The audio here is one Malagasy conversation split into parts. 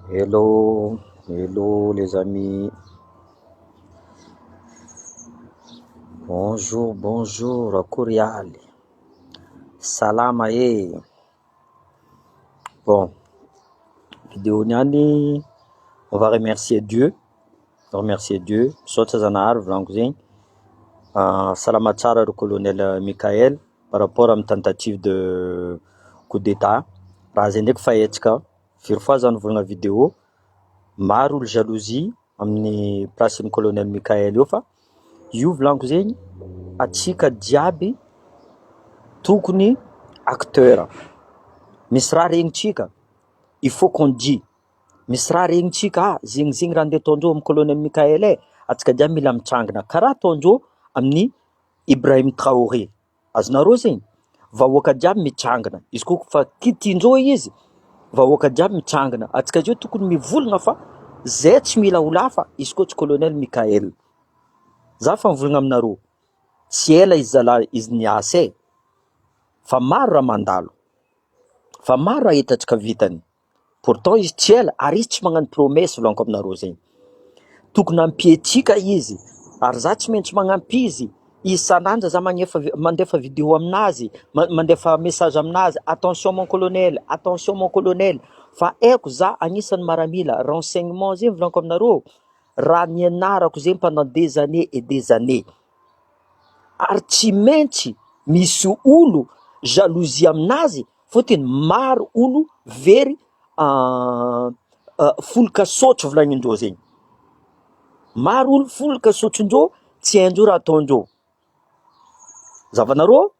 Hello hello les amis bonjour bonjour akory ialy salama e bon video niany on va remercier Dieu remercier Dieu misaotra zanahary volaniko zegny salama tsara ry colonel Mickaël par rapport amin'ny tentative de coup d'etat raha zay ndraiky fa hetsika. Very fo aza ny volana video, maro olo jalousie amin'ny place ny colonel Mickaël eo fa io volaniko zegny atsika jiaby tokony acteur, misy raha regnintsika il faut qu'on dit, misy raha regnintsika ah zegny zegny raha ndeha ataondreo amin'ny colonel Mickaël eh, atsika jiaby mila mitsangana karaha ataondreo amin'ny Ibrahim Traoré. Azonareo zay? Vahoaka jiaby mitrangina, izy ko fa kitihin-dreo izy, vahoaka jiaby mitrangina, antsika zao tokony mivolona fa zay tsy mila ho lahy fa izy ko tsy colonel Mickaël. Za fa mivolagna aminareo, tsy ela izy zalahy izy niasa e! Fa maro raha mandalo, fa maro raha hitantsika vitany. Pourtant izy tsy ela ary izy tsy magnano promesse volaniko aminareo zegny, tokony ampio antsika izy ary za tsy maintsy magnampy izy isan'andro za magnefa- mandefa video aminazy, mandefa message aminazy, attention mon colonel, attention mon colonel, fa haiko za agnisan'ny maramila, renseignement zegny volaniko aminareo, raha nianarako zegny pendant des années et des années, ary tsy maintsy misy olo jalousie aminazy. Fotiny maro olo very folo ka sotro volagnindreo zegny, maro olo folo ka sotrondreo tsy haindreo raha ataondreo, zavanareo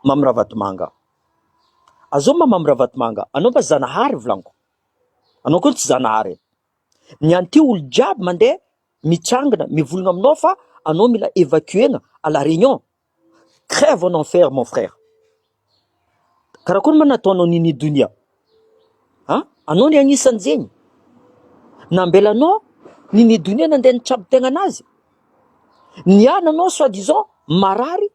Mamy Ravatomanga, azao ma Mamy Ravatomanga anao ma Zanahary volagniko, anao koa tsy Zanahary e, ny anty olo jiaby mandeha mitsangana mivolagna aminao fa anao mila evacuer-na à la réunion. Crève en enfer mon frère. Karakory ma nataonao Nini Donia a? Anao ny anisan'ny zegny nambelanao Nini Donia nandeha nitrabo tegna anazy, niala anao soit disant marary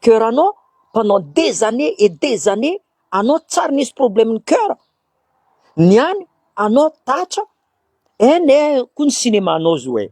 coeur anao pendant des années et des années anao tsary nisy problème ny coeur, niany anao tatra, ein eh ko ny cinéma nao zo eh.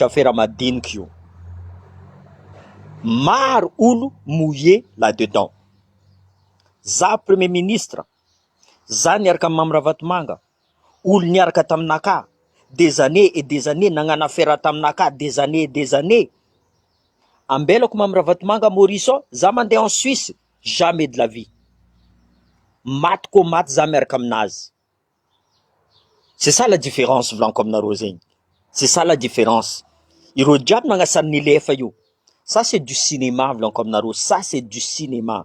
Afera madinika io. Maro olo mouillé là dedans. Za premier ministre, za niaraka amin'i Mamy Ravatomanga, olo niaraka taminakahy des années et des années nagnano afera taminakahy des années et des années. Ambelako Mamy Ravatomanga Maurice ao, za mandeha en Suisse, jamais de la vie. Maty koa maty za miaraka aminazy. C'est ça la différence volaniko aminareo zegny, c'est ça la différence, ireo jiaby nagnasary ny lefa io, ça c'est du cinéma volaniko aminareo, ça c'est du cinéma,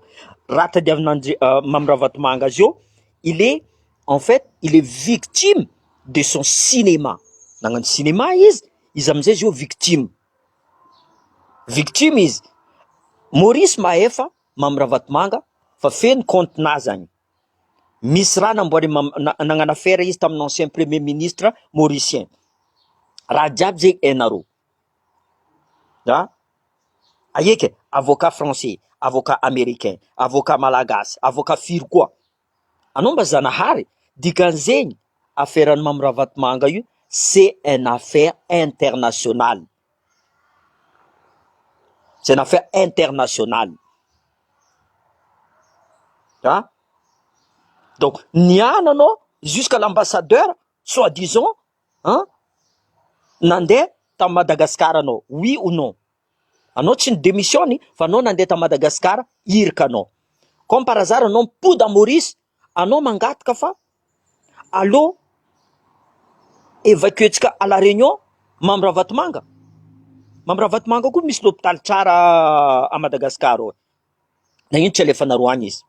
raha tadiavin'Andri- Mamy Ravatomanga azy eo, il est en fait il est victime de son cinéma, nagnano cinéma izy, izy amizay zao victime, victime izy, Maurice mahefa Mamy Ravatomanga fa feno compte-nazy agny. Misy raha namboary nagnano afera izy tamin'ny ancien premier ministre mauricien, raha jiaby zay hainareo an! Ahiaka e! Avocat français, avocat americain, avocat malagasy, avocat firy koa? Anao mba zanahary? Dikan'izegny aferan'i Mamy Ravatomanga io c'est un affaire internationale. C'est une affaire internationale. An? Donc, ny ahy anao jusqu'à l'ambassadeur soit disant an, nandeha tamin'i Madagasikara anao, oui ou non? Anao tsy ni-demissionne fa anao nandeha tamin'i Madagasikara, irika anao. Comme par hasard anao mipody à Maurice, anao mangataka fa Allô? Evacuer-tsika à la Réunion, Mamy Ravatomanga? Mamy Ravatomanga koa misy lopitaly tsara à Madagascar ô! Na ino tsy alefanareo any izy,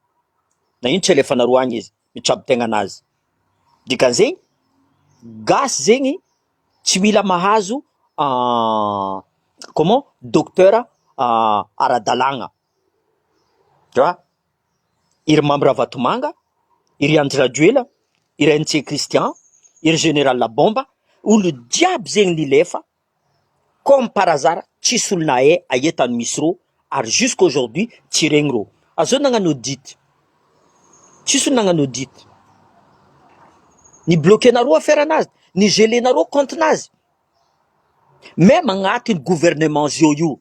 na ino tsy alefanareo any izy, mitsabo tegna anazy. Dikan'izegny, gasy zegny tsy mila mahazo comment? Docteur ara-dalàgna, eeh! i Rimamy Ravatomanga, i ry Andry Rajoelina, i ry NC Christian, i ry Général Bomba, olo jiaby zegny nilefa comme par hasard tsisy olo nahay aia tany misy rô ary jusqu'à aujourd'hui tsy regny rô, azô nagnano audit, tsisy olo nagnano audit, ni-bloquer-narô affaire nazy, ni-geler-narô compte nazy, même agnatiny gouvernement zô io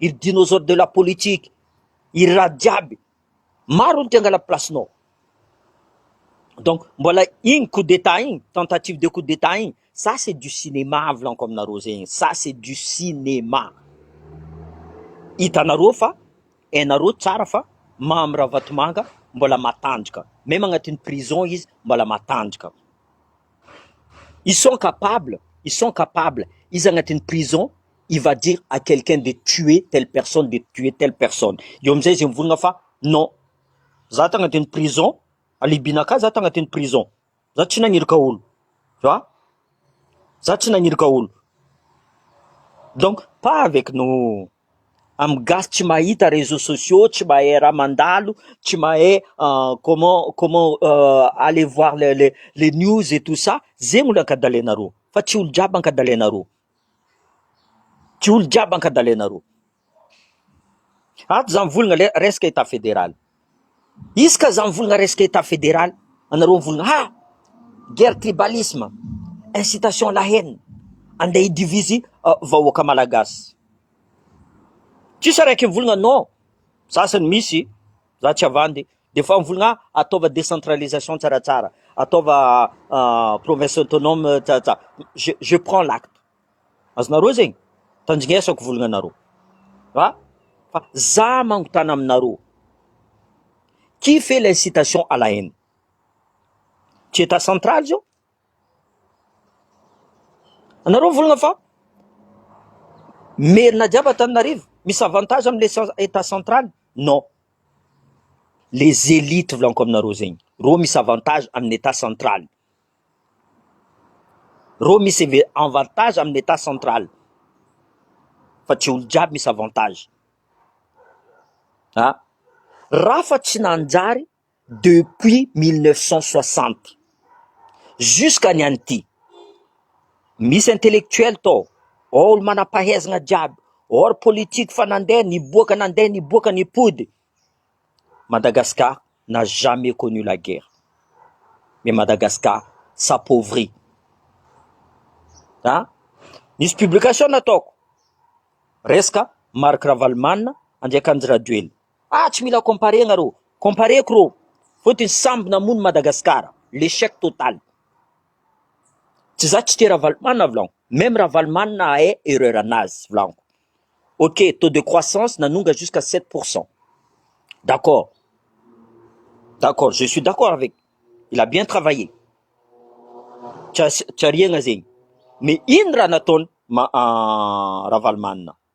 Il dinosaure de la politique, il raha jiaby, maro ny te hangala place-nao. Donc, mbola igny coup d'état igny, tentative de coup d'état igny, ça c'est du cinéma volaniko aminareo zegny, ça c'est du cinéma. Hitanareo fa, hainareo tsara fa Mamy Ravatomanga mbola matanjaka, même agnatin'ny prison izy mbola matanjaka. Ils sont capables, ils sont capables, izy agnatin'ny prison, il va dire à quelqu'un de tuer telle personne, de tuer telle personne. Eo amizay izy mivorogna fa non, za tagna teny prison, alibina ka za tagna teny prison, za tsy nagniraka olo, tu vois, za tsy nagniraka olo, donc pas avec nous, amy gasy tsy mahita reseaux sociaux, tsy mahay raha mandalo, tsy mahay comment comment aller voir les les news et tout ça, zegny olo ankadalainareo fa tsy olo jiaby ankadalainareo. Jiaolo jiaby ankadalenareo. Ato zany volana le resaka etat federal. Izy ka zany volana resaka etat federal, anareo volana ha! guerre tribalisme, incitation à la haine, andeha hi diviser vahoaka malagasy. Tsisy araiky volana non, za sany misy, za tsy havandy. Dia fa mivolagna ataova décentralisation tsaratsara, ataova province autonome tsaratsara, je je prends l'acte. Azonareo zegny? Tandrignesako volagnanareo. Ha? Fa za mangotana aminareo. Qui fait l'incitation à la haine? Tsy état central zao? Anareo volagna fa merina jiaby Antananarivo, misy avantage amle état central? Non. Les élites volaniko aminareo zegny, reo misy avantage amin'ny etat central, reo misy inve- avantage amin'ny etat central fa tsy olo jiaby misy avantage ah, raha fa tsy nanjary depuis mille neuf cent soixante. Jusque ny an'ity. Misy intellectuel tao, ao olo manam-pahaizana jiaby, ao ry politique fa nandeha niboaka nandeha niboaka nipody. Madagascar n'a jamais connu la guerre. Mais Madagascar s'appauvrit. An! Nisy publication nataoko, resaka Marc Ravalomanana, Andriakanjy Rajoelina. Ah tsy mila comparer nareo, comparer-ko reo fotony samby namono Madagascar, l'echec total. Tsy za tsy tia Ravalomanana vlan, meme Ravalomanana hahay erreur anazy vlanko. Ok taux de croissance nanonga jusqu'à sept pour cent, d'accord, d'accord je suis d'accord avec, il a bien travailler, tsy ariagna zegny, mais ino raha nataony Ravalomanana?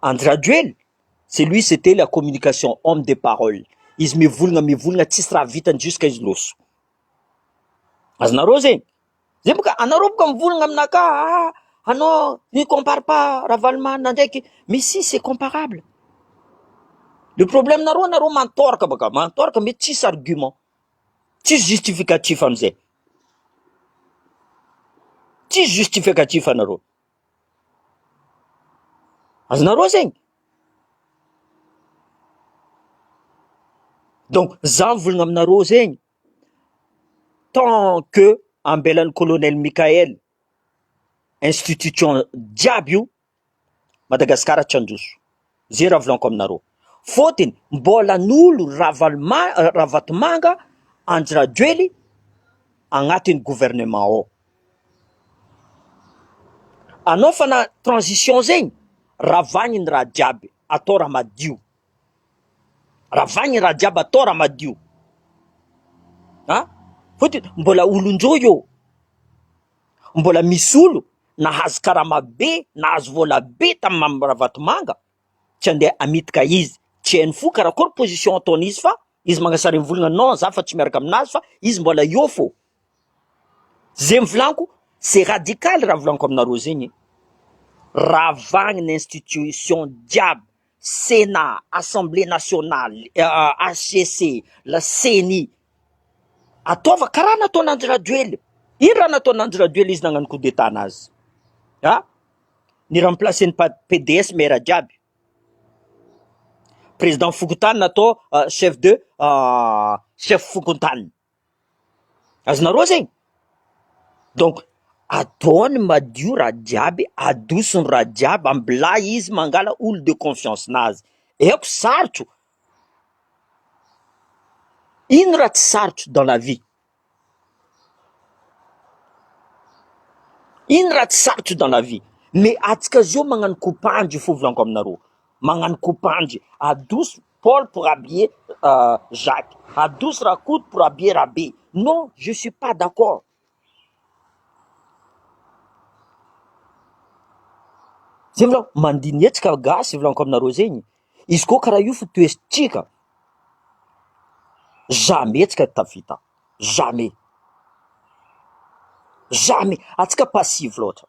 Andry Rajoely, c'est lui c'était la communication, homme de parole, izy mivolagna mivolagna tsisy raha vitany jusqu'à izy loso, azonareo zegny? zay boka anareo boka mivolagna aminakahy aa anao ne compare pas Ravalomanana ndraiky mais si c'est comparable, le problème nareo nareo mantoraka baka, mantoraka mety tsisy argument, tsisy justificatif amizay, tsisy justificatif nareo. Azonareo zegny? Donc za mivolagna aminareo zegny, tant que ambelan'ny colonel Mickaël institution jiaby io, Madagasikara tsy handroso. Izay raha volaniko aminareo. Fotony, mbola nolo Ravaloma- Ravatomanga Andry Rajoely agnatin'ny gouvernement ao. Anao fa na transition zegny, ravagny ny raha jiaby, atao raha madio. Ravagny ny raha jiaby, atao raha madio. An! Fotony, mbola olon-jo eo. Mbola misy olo nahazo karama be, nahazo vola be tamin'i Mamy Ravatomanga, tsy handeha hamitika izy, tsy hainy fo karakory position ataony izy fa izy mangasary am volana non za fa tsy miaraka aminazy fa izy mbola eo fô, zegny volaniko c'est radical raha volaniko aminareo zegny e, ravagny ny institution jiaby. Sénat, Assemblée nationale, HCC, la ceni. Ataova karaha nataon Andry Rajoely. Ino raha nataon Andry Rajoely izy nagnano coup d'état anazy? A? Ni remplacer ny PDS maire jiaby. Président fokontany natao chef de chef fokontany. Azonareo zay? Donc atao ny madio raha jiaby, adoso ny raha jiaby, ambilay izy mangala olo de confiance nazy, aiko sarotro, ino raha tsy sarotro dans la vie? ino raha tsy sarotro dans la vie? Mais atsika zao magnano kopandry fovolanko aminareo, magnano kopandry, adoso Paul pour habiller Jacques, Hadouce Rakoto pour habiller Rabe, non je suis pas d'accord. Zay volako mandihy ny hetsika gasy volaniko aminareo zegny, izy koa karaha io fotohesintsika jamais antsika tafita jamais jamais antsika passive loatra.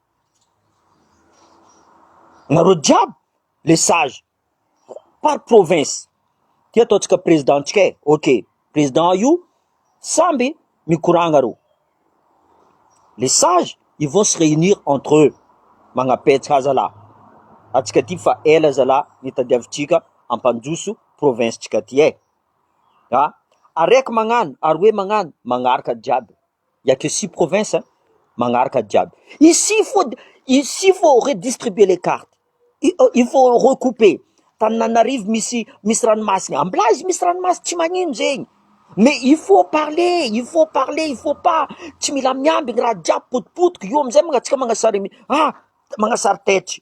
Nareo jiaby le sage par province ty ataontsika président tsika e, ok président io samby mikoragna reo, le sage ils vont se réunir entre eux magnapetraka ahy zalah, antsika ty fa ela zalah nitadiavitsika hampandroso province tsika ty e, ah! ary raiky magnano ary hoe magnano magnaraka jiaby. Il y a que six provinces a, manaraka jiaby, ici il faut ici il faut redistribuer les cartes, il faut recouper, Tananarivo misy misy ranomasina, Amblazy misy ranomasina, tsy magnino zegny, mais il faut parler, il faut parler, il faut pas, tsy mila miambigny raha jiaby potipotika, io amizay mangatsika magnasary ah! magnasary tetry.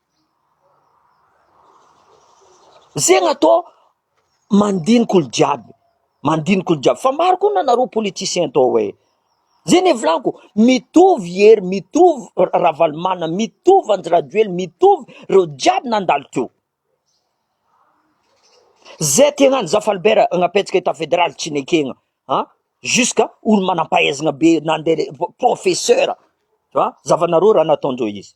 Zegna tô mandinika olo jiaby, mandinika olo jiaby, fa maro koa nareo politiciens tô e, zegny e volaniko, mitovy Hery, mitovy Ravalomanana, mitovy Andry Rajoely, mitovy reo jiaby nandalo teo, zay tegna any zafalibera napetraka etat federal tsy nekegna an, jusque olo manam-pahaizana be nande professeur, an zavanareo raha nataondreo izy.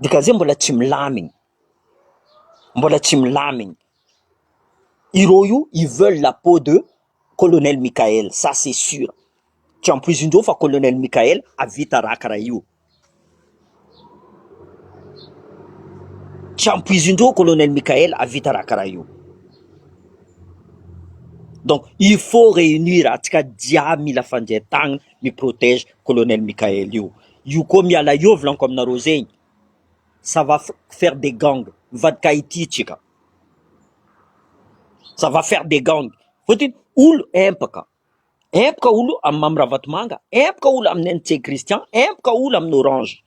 Ny gazety mbola tsy milamigny, mbola tsy milamigny. I rohy io ils veulent la peau de colonel Mickaël, ça c'est sur, tsy ampoizin-dreo fa colonel Mickaël hahavita raha karaha io, tsy ampoizin-dreo colonel Mickaël hahavita raha karaha io. Donc il faut reunir antsika jiaby mila fandrian-tagnana mi-protège colonel Mickaël io. Io koa miala eo volaniko aminareo zegny ça va faire des gang mivadika Haiti atsika ça va faire des gang fotony olo empaka empaka olo am Mamy Ravatomanga empaka olo am NC Christian empaka olo am Orange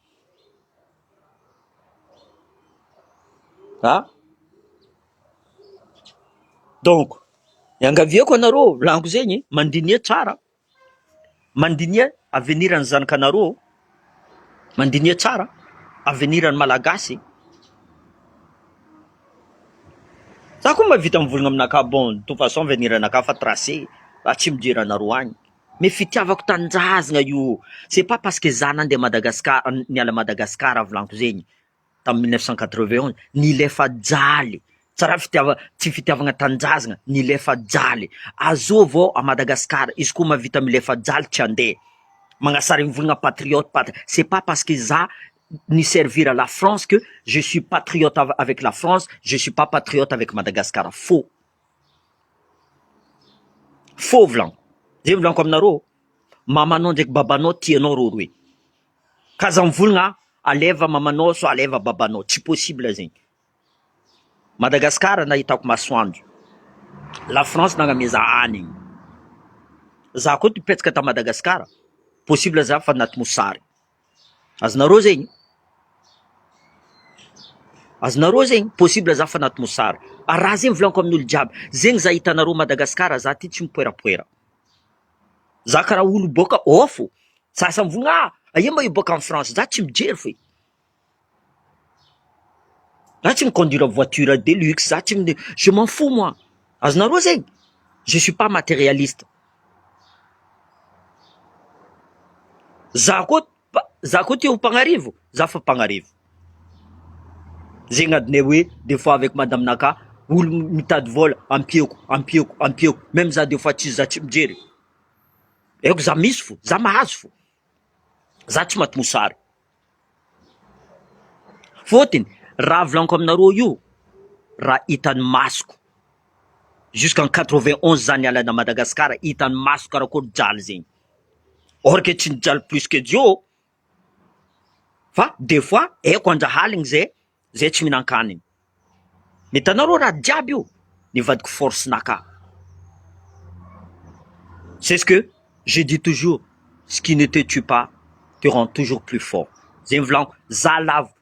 ah donc iangaviako anareo volaniko zegny mandiniha tsara. Mandiniha avenir ny zanakanareo ô! Mandiniha tsara avenir ny Malagasy e! Za koa mba vita mivolagna aminakà bon de toute façon avenir anakà efa tracé atsimo hijery anareo any mais fitiavako tanindrazagna io c'est pas parce que za nande Madagascar niala Madagascar volagniko zegny tamin'ny mille neuf cent quatre-vingt-onze, nilefa jaly, tsy raha fitiava- tsy fitiavagna tanindrazagna, nilefa jaly, azo avao à Madagascar, izy koa mahavita milefa jaly tsy handeha, magnasary mivolagna patriote pat- c'est pas parce que za ni-servir à la France que je suis patriote av- avec la France, je suis pas patriote avec Madagascar, faux, faux volagno, zay volagno aminareo ô, mamanao ndraiky babanao tianao rôroe. K'aza mivolgna a! Aleva mamanao sao aleva babanao, tsy possible zegny. Madagascar nahitako masoandro, la France nagname za hanigny, za koa nipetaka ta Madagascar, possible za fa anaty mosary. Azonareo zegny? Azonareo zegny? Possible za fa anaty mosary. Ary raha zegny volaniko amin'olo jiaby, zegny za hitanareo Madagascar za ty tsy mipoerapoera. zaka ra olo boka off o, za aza mivogna ah, aia ma io boka any France, za tsy mijery fe, za tsy mi conduire voiture de luxe, za tsy mi, je m'en fous moi, azonareo zegny, je suis pas materialiste, za koa. Za koa tia ho mpagnarivo, za fa mpagnarivo. Zegny adinay hoe des fois avec madame naka, olo mitady vôla ampiako, ampiako, ampiako, même za des fois tsy za tsy mijery, aiko za misy fô, za mahazo fô, za tsy maty mosary, fôtony raha volaniko aminareo io, raha hitan'ny masoko, jusqu'en quatre vingt onze za niala ana Madagasikara, hitan'ny masoko karakôry jaly zegny. or que tsy nijaly plus que Dieu ô! fa des fois eko anjahaligny zay zay tsy mihinan-kanigny, ny hitanao rô raha jiaby io ny vadiko force naka, c'est ce que je dis toujours, ce qui ne te tue pas te rend toujours plus fort, zay ny volaniko, za lavo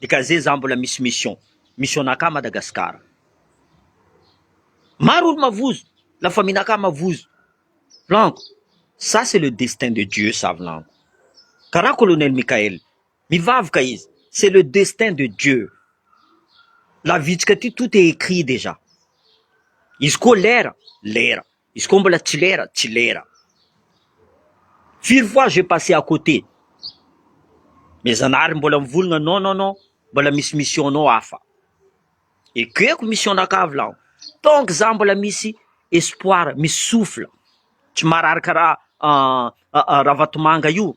de ka ze za mbola misy mission, mission naka Madagascar, maro olo mavozo, la famille naka mavozo, lanko, ça c'est le destin de Dieu ça lanko, karaha colonel Mickael, mivavka izy, c'est le destin de Dieu, la vitsika ty tout est écrit dejà, izy koa lera, lera. Izy koa mbola tsy lera, tsy lera. Firy fois j'ai passé à côté. Mais Zanahary mbola mivolagna non non non mbola misy mission nao hafa. Ekeko mission nakavy laho. Tant que za mbola misy espoir, misy souffle, tsy marary karaha Ravatomanga io.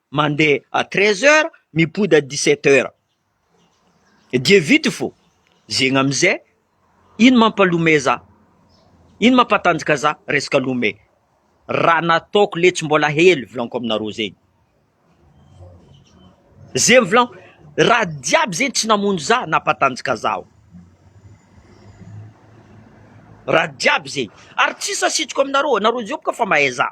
Mandeha à treize heures mipody à dix sept heures dia vita io fô zegny amizay ino mampalome za? ino mampatanjaka za? resaka lome raha nataoko letsy mbola hely volaniko aminareo zegny zegny volaniko raha jiaby zegny tsy namono za nampatanjaka zaho raha jiaby zegny ary tsisy asitriko aminareo anareo jiaby ka fa mahay za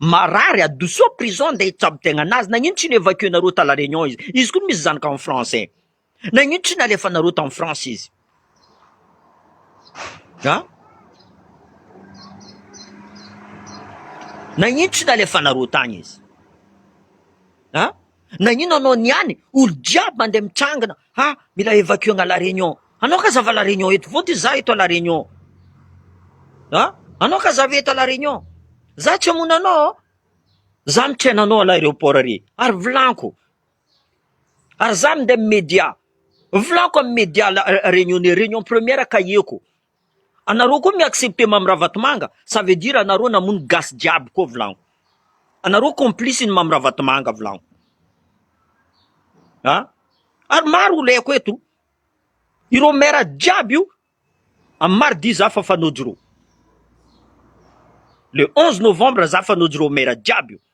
Marary adosoa prison andeha hitsabo tegna nazy nagnino tsy ni evacuer nareo ta la reunion izy izy koa misy zanaka en France nagnino tsy nalefanareo tam France izy a nagnino tsy nalefanareo tagny izy a nagnino anao niany olo jiaby mandeha mitsangana Ha! Mila evacuer-na la Réunion. Anao ka zava la Réunion eto. Vao ty za eto à la Réunion. Ha! Anao ka zava eto à la Réunion. Za tsy hamono anao aho. Za mitrena anao à l'aéroport ary. Ary volanko. Ary za minday amin'ny media. Volanko amin'ny media la Réunionnais, Réunion première kahie-ko. Anareo koa mi accepter Mamy Ravatomanga ça veut dire anareo namono gasy jiaby koa volagno. Anareo complice ny Mamy Ravatomanga volagno. A! Ary maro oleko eto. Ireo maire jiaby io am mardi za fa fanojy reo. Le 11 novembre za fanojy reo maire jiaby io.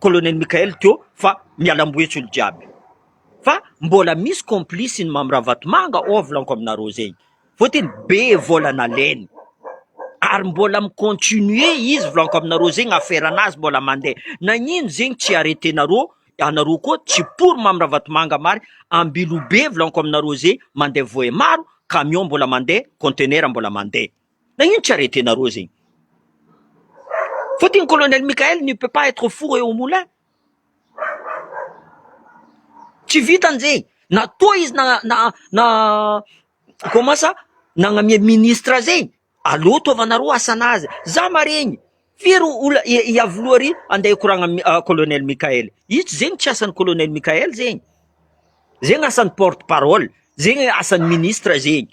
colonel Mickael teo fa mialamboho etsy olo jiaby fa mbola misy complice ny Mamy Ravatomanga ao volaniko aminareo zegny vao teny be vola nalainy ary mbola mi continuer izy volaniko aminareo zegny affaire anazy mbola mandeha nagnino zegny tsy arretenareo anareo koa tsy pour Mamy Ravatomanga mari Ambilobe volaniko aminareo zegny mandeha voe maro camion mbola mandeha contenaire mbola mandeha. Nagnino tsy arrêter nareo zegny? Fotony colonel Mickael ne peut pas être four et au moulin. Tsy vitany zegny, na toa izy na na na comment ça nagnamia ministre zegny, aleo ataovanareo asanazy, za maregny firy ola i Iavoloha ry ande hikoragna am colonel Mickael, io tsy zegny tsy asan'i colonel Mickael zegny, zegny asan'ny porte parole, zegny asan'ny ministre zegny.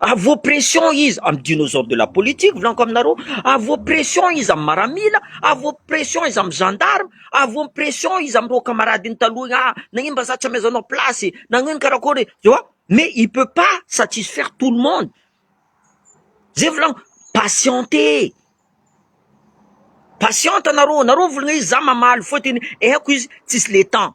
A vos pression iza amin'ny dinosaures de la politique volaniko aminareo, a vos pression iza amin'ny maramila, a vos pression iza amin'ny gendarme, a vos pression iza amin'ireo kamaradiny taloha igny, ah nagnino mba za tsy amezanao place e, nagnino karakôry e, tu vois, mais il peut pas satisfaire tout le monde, zay volaniko, patientez, patiente nareo, nareo mivolagna izy za mamaly fôtony haiko izy tsisy le temps.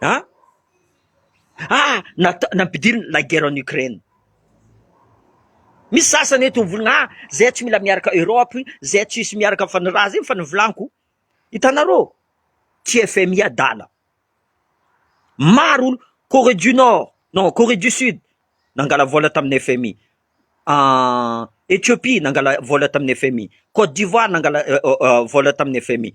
An! Ah! Natao, nampidirina la guerre en Ukraine. Misy sasany eto mivolagna ah! Zay tsy mila miaraka Europe, zay tsisy miaraka fa ny raha zegny fa ny volanko. Hitanareo? Tsy FMI adala. Maro olo, Corée du Nord, non Corée du Sud nangala vola tamin'ny FMI. Ah, Ethiopie nangala vola tamin'ny FMI. Côte d'Ivoire nangala vola tamin'ny FMI.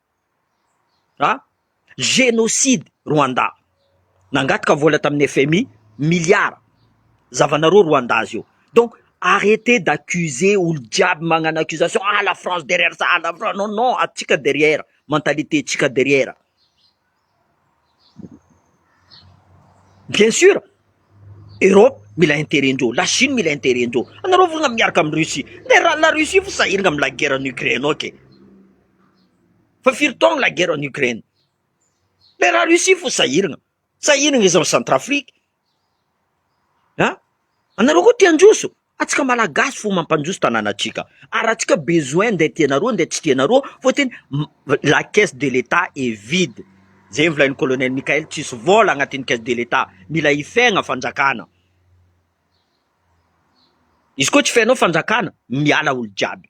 a! Genocide Rwanda, nangataka vola tamin'ny FMI miliara, zavanareo Rwanda zio, donc arretez d'accuser olo jiaby magnano accusation ah la France derrière ça, la France non non atsika derrière, mentalité tsika derrière. Bien sur, Europe mila interet-ndreo, la Chine mila interet-ndreo, anareo ve miaraka amin'i Russie? Dia raha la Russie ve sahirana amin'ny la guerre en Ukraine ok, fa firy taona la guerre en Ukraine? Dia raha Russie fo sahirana, sahirana izy any Centrafrique, An! Anareo koa te handroso? Antsika Malagasy fo mampandroso tananatsika, ary raha tsika besoin ndeha tianareo ndeha tsy tianareo fô teny la caisse de l'etat est vide, zay volain'i colonel Mickael tsisy vôla agnatin'ny caisse de l'etat, mila hifegna fanjakana, izy koa tsy fenao fanjakana miala olo jiaby.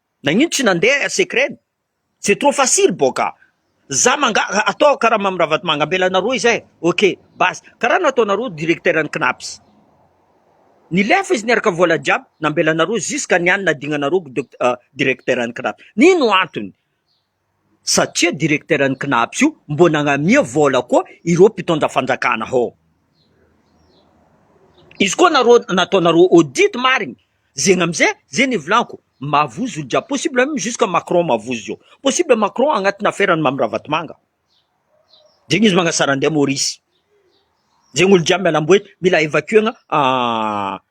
Nagnino tsy nandeha secret ny? C'est trop facile boka. Za manga atao karaha Mamy Ravatomanga ambela anareo izay ok base karaha nataonareo directeur ny Cnaps. Nilefa izy niaraka vola jiaby nambelanareo jusqu'à ny any nadignanareo directeur ny Cnaps. Nino antony? Satria directeur ny Cnaps io mbô nagnamia vôla koa ireo mpitondra fanjakana hô. Izy koa nareo nataonareo audit marigny zegny amizay zegny ivolanko mavozo jiaby possible meme jusque Macron mavozo zao. Possible Macron agnatina affaire an'i Mamy Ravatomanga. Zegny izy magnasara andeha Maurice. Zegny olo jiaby mialamboe mila evacuer-gna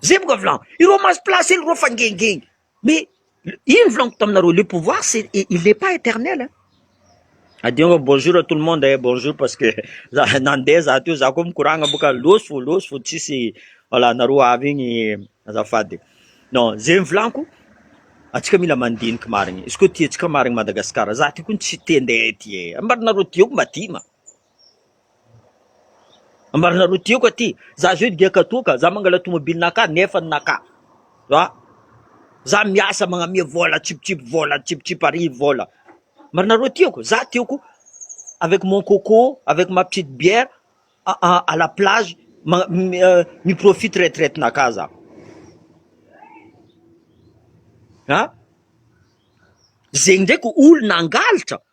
Zay boka volagno, ireo maso place ireo fa gengengy, mais iny volagniko taminareo, le pouvoir c'est il n'est pas eternel hein. Adingo bonjour à tout le monde eh bonjour parce que za nandeha za teo za koa mikoragna boka lôso fo lôso fo tsisy voilà nareo avy igny azafady non zegny volanko atsika mila mandiniky marigny izy koa tiantsika marigny Madagasikara za ty koa tsy te ndeha ty eh mba nareo tiako mba ty ma Marina aloha tiako aty, za zao dia katoa ka, za mangala tomobilinakà nefa ny nakà, a! za miasa magnamia vôla tsipitsipy vôla tsipitsipy arivo vôla, marina aloha tiako, za tiako avec mon coco, avec ma petite bière a-a à la plage ma- mi-profite retraitinakà za, a! zegny ndraiky olona hangalatra,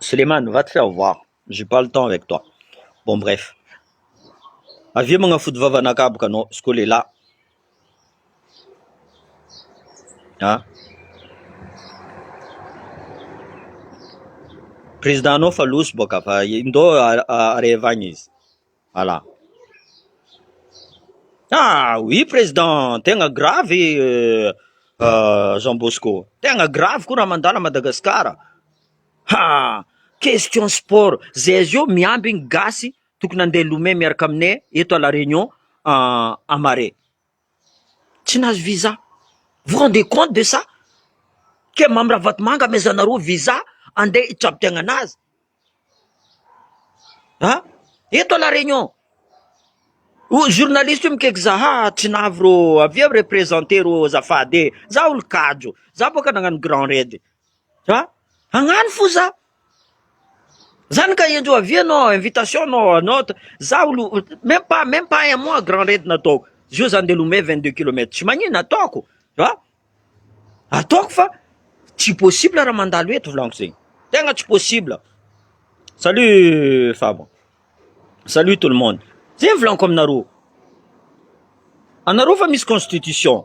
Suleiman va te faire voir j'ai pas le temps avec toi bon bref avia magnafody vava anakaboka anao izy koa lehilahy Ah. Président anao fa loso boka fa indao areva agny izy. Voilà. Ah oui président, tegna gravy euh, euh, Jean Bosco. Tegna gravy koa raha mandala Madagasikara. Ha! Question sport, zay zio miambigny gasy Tokony handeha Lome miaraka aminay eto à la Réunion à Marais. Tsy nahazo visa. Vous rendez compte de ça? Ke Mamy Ravatomanga amezanareo visa handeha hitrabitiagnana azy. Ha? Eto à la Réunion. O journaliste io mikaiky za ha tsy nahavy rô avia representer rô azafady e. Za olo-kajo. Za boaka nagnano Grand Raid. Ha? Agnano fo za. Zany ka ianjo avy anao invitation anao anao za olo même pas même pas un mois grand raid nataoko. Zio za ndeha lomay 22 kilomètres. Tsy magnino ataoko. Ha? Ataoko fa tsy possible raha mandalo eto volaniko zegny. Tegna tsy possible. Salut Fabo. Salut tout le monde. Zegny volaniko aminareo. Anareo fa misy constitution.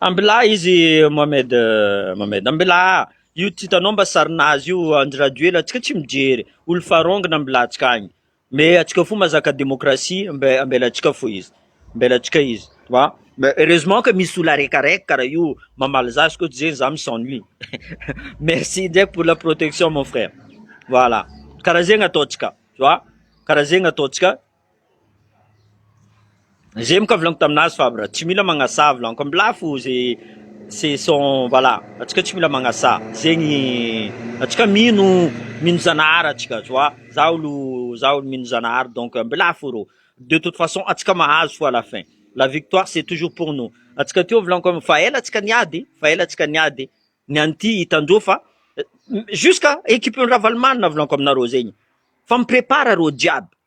Ambilà izy Mohamed Mohamed ambilà io tsy hitanao mba sarin'azy io Andry Rajoelina antsika tsy mijery olo farongony ambilà antsika any me antsika fo mazaka demokrasia mbe- ambela antsika fo izy ambela antsika izy ma me heureusement ka misy olo araika araika kara io mamaly za izy koa tsy zegny za mi s'ennuie merci ndraiky pour la protection mon frère voilà kara zegny ataontsika tu vois kara zegny ataontsika. J'ai moka volagno tamin'azy fa bra tsy mila magnasaha volaniko am lafo ze c'est son voilà atsika tsy mila magnasaha zegny atsika mino mino zanahary atsika tu vois za olo za olo mino zanahary donc am lafo rô de toute façon atsika mahazo fo à la fin la victoire c'est toujours pour nous atsika teo volaniko am fa ela atsika niady fa ela atsika niady ny an'ity hitandreo fa jusqu'à équipe ny ravalomanana volaniko aminareo zegny fa mi-prépare arô jiaby.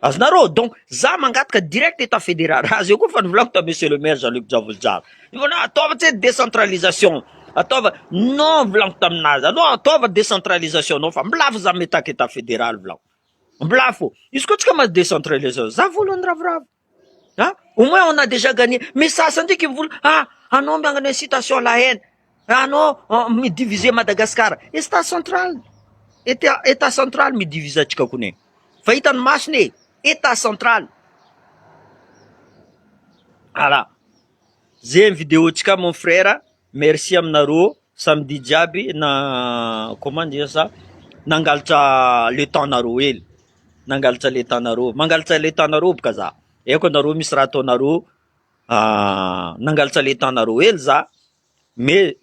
Azonareo e, donc za mangataka direct etat federal, raha zay koa efa novolako tamin'ny monsieur le maire Jean Luc Javolojara, hitanao ataova tse décentralisation, ataova, non volako taminazy, anao ataova décentralisation anao fa mbola afo za mitaka etat federal volako, mbola afo, izy koa tsy kamazy décentralisation za voalohany ravoravo. Hein? Au moins on a déjà gagné. Mais sasany ndreky mivola ah anao magnano incitation à la haine, anao ah, mi-diviser Madagascar. Etat central, etat etat central mi-diviser antsika kony e. Fa hitan'ny masony e, etat central. Voilà. Zay ny vidéo-ntsika mon frère. Merci aminareo samedi jiaby na comment dire ça nangalatra le temps nareo hely nangalatra le temps nareo mangalatra le temps nareo boka za aiko anareo misy raha ataonareo ah, nangalatra le temps nareo hely za mais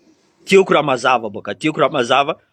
tiako raha mazava boka tiako raha mazava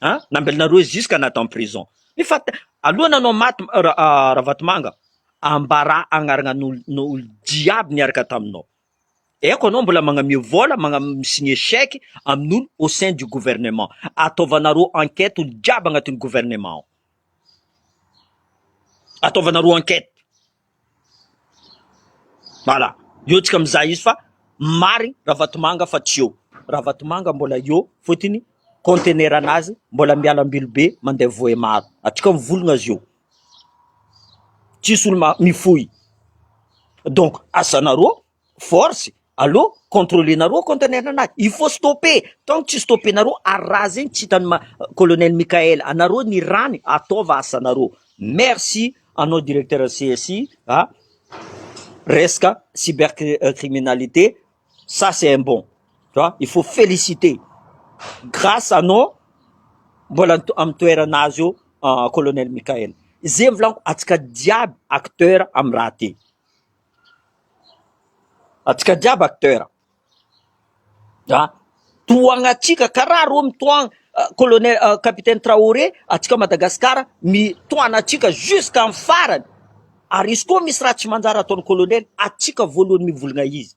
an! Nambelona roe jusque na dans prison ny fat aloha nanao maty Ravatomanga ambarà agnarana ny olo jiaby niaraka taminao eko anao mbola magname vola mi signe chèque amin'olo au sein du gouvernement ataovanareo enquête olo jiaby agnatin'ny gouvernement ao ataovanareo enquête Voilà, eo tsika mizaha izy fa marigny Ravatomanga fa tsy eo, Ravatomanga mbola eo fotony contenaire nazy mbola miala Ambilobe mandeha Vohemar, atsika mivologna azy eo, tsisy olo ma- mifoy, donc asanareo force aleo controlenareo contenaire anazy, il faut stopper, tant que tsy stoppenareo ary raha zegny tsy hitan'i ma- colonel Mickaël anareo ny ràny ataova asanareo, merci anao directeur CSI a, resaka cyber cri- criminalité ça c'est un bon tu vois, il faut feliciter grâce anao mbola ny to- amin'ny toeranazy eo colonel Mickaël, ze volaniko antsika jiaby acteur amin'ny raha ty. Antsika jiaby acteur an! Tohana antsika karaha rony tohana colonel capitaine Traoré antsika Madagasikara mitohana antsika jusqu'à ny farany ary izy koa misy raha tsy manjary ataony colonel antsika voalohany mivolona izy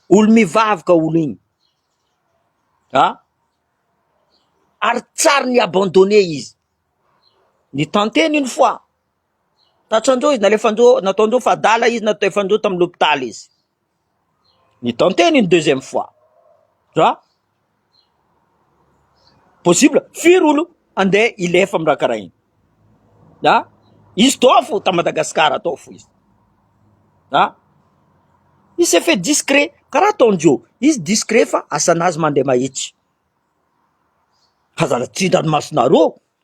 olo mivavy ka olo iny an! Ary tsy ary ni abandonné izy ni tenter une fois. Tratran-doha izy, nalefandoha, nataon-doha fa adala izy, nalefandoha tamin'ny lopitaly izy. Ny tenter ny deuxième fois. Ra possible, firy olo andeha hilefa amin'ny raha karaha iny. Ra izy toa fo ta Madagascar atao fo izy. Ra izy s'est fait discret karaha ataon-dry eo, izy discret fa asanazy mandeha mahitsy. Aza la tsy hitan-masonareo.